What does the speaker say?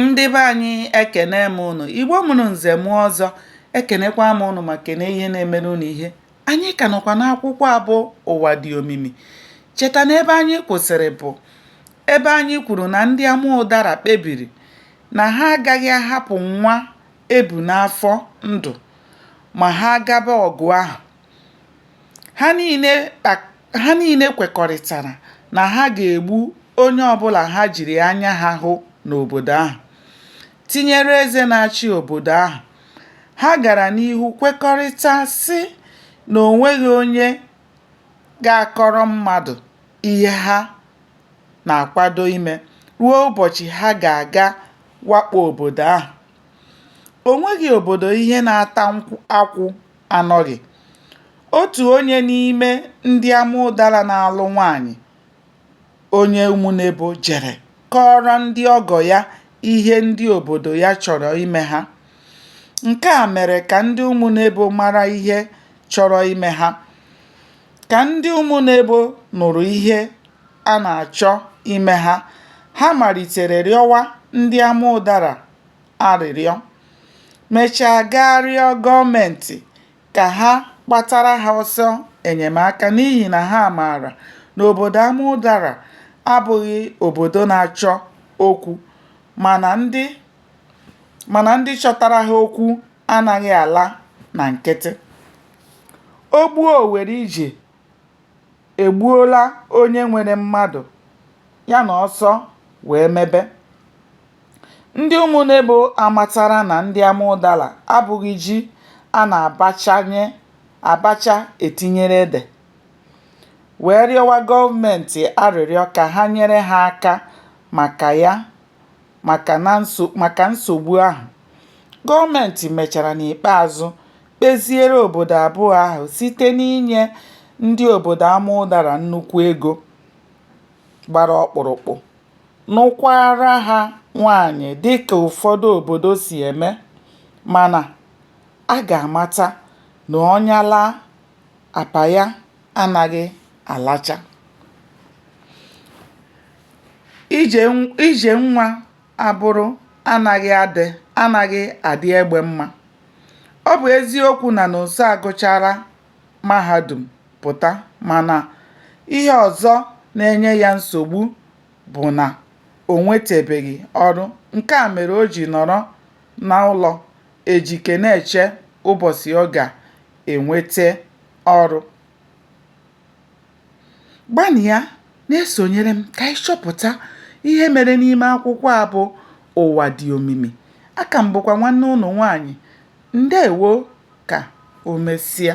ndị be anyị ekene m ụnụ igbo mụrụ nze mụọ ọzọ ekenekwa m ụnụ ma kene ihe na-emere ụnụ ihe anyị ka nọkwa n'akwụkwọ a bụ ụwa dị omimi cheta na ebe anyị kwụsịrị bụ ebe anyị kwuru na ndị ama ụdara kpebiri na ha agaghị ahapụ nwa e bu n'afọ ndụ ma ha gaba ọgụ ahụ Ha niile kwekọrịtara na ha ga-egbu onye ọbụla ha jiri anya ha hụ n'obodo ahụ, tinyere eze na-achị obodo ahụ. Ha gara n'ihu kwekọrịta sị na o nweghị onye ga-akọrọ mmadụ ihe ha na-akwado ime ruo ụbọchị ha ga-aga wakpo obodo ahụ. O nweghị obodo ihe na-ata akwụ anọghị. Otu onye n'ime ndị ama ụdara na-alụ nwaanyị onye Umunebo jere kọọrọ ndị ọgọ ya ihe ndị obodo ya chọrọ ime ha. Nke a mere ka ndị Umunebo mara ihe chọrọ ime ha. Ka ndị Umunebo nụrụ ihe a na-achọ ime ha, ha malitere rịọwa ndị ama ụdara arịrịọ, mechaa gaa rịọ gọọmentị ka ha gbatara ha ọsọ enyemaka n'ihi na ha maara na obodo Amudara abụghị obodo na-achọ okwu mana ndị chọtara ha okwu anaghị ala na nkịtị. O gbuo o were ije egbuola onye nwere mmadụ ya na ọsọ wee mebe. Ndị Umunebo amatara na ndị Amụdala abụghị ji a na-abacha etinyere ede, wee rịọwa gọọmentị arịrịọ ka ha nyere ha aka maka ya maka nsogbu ahụ. Gọọmentị mechara n'ikpeazụ kpeziere obodo abụọ ahụ site n'inye ndị obodo Amụdara nnukwu ego gbara ọkpụrụkpụ. nụkwaara ha nwaanyị dịka ụfọdụ obodo si eme mana a ga-amata na ọnya laa, apa ya anaghị alacha. Ije nwa abụrụ anaghị adị egbe mma. Ọ bụ eziokwu na Nonso agụchaala mahadum pụta mana ihe ọzọ na-enye ya nsogbu bụ na o nwetebeghị ọrụ, nke a mere o ji nọrọ n'ụlọ Ejike na-eche ụbọchị ọ ga-enweta ọrụ. Gbanịa na-esonyere m ka anyị chọpụta ihe mere n'ime akwụkwọ a bụ Ụwa Dị Omimi. Aka m bụkwa nwanne unu nwaanyị. Ndewo! Ka o mesịa.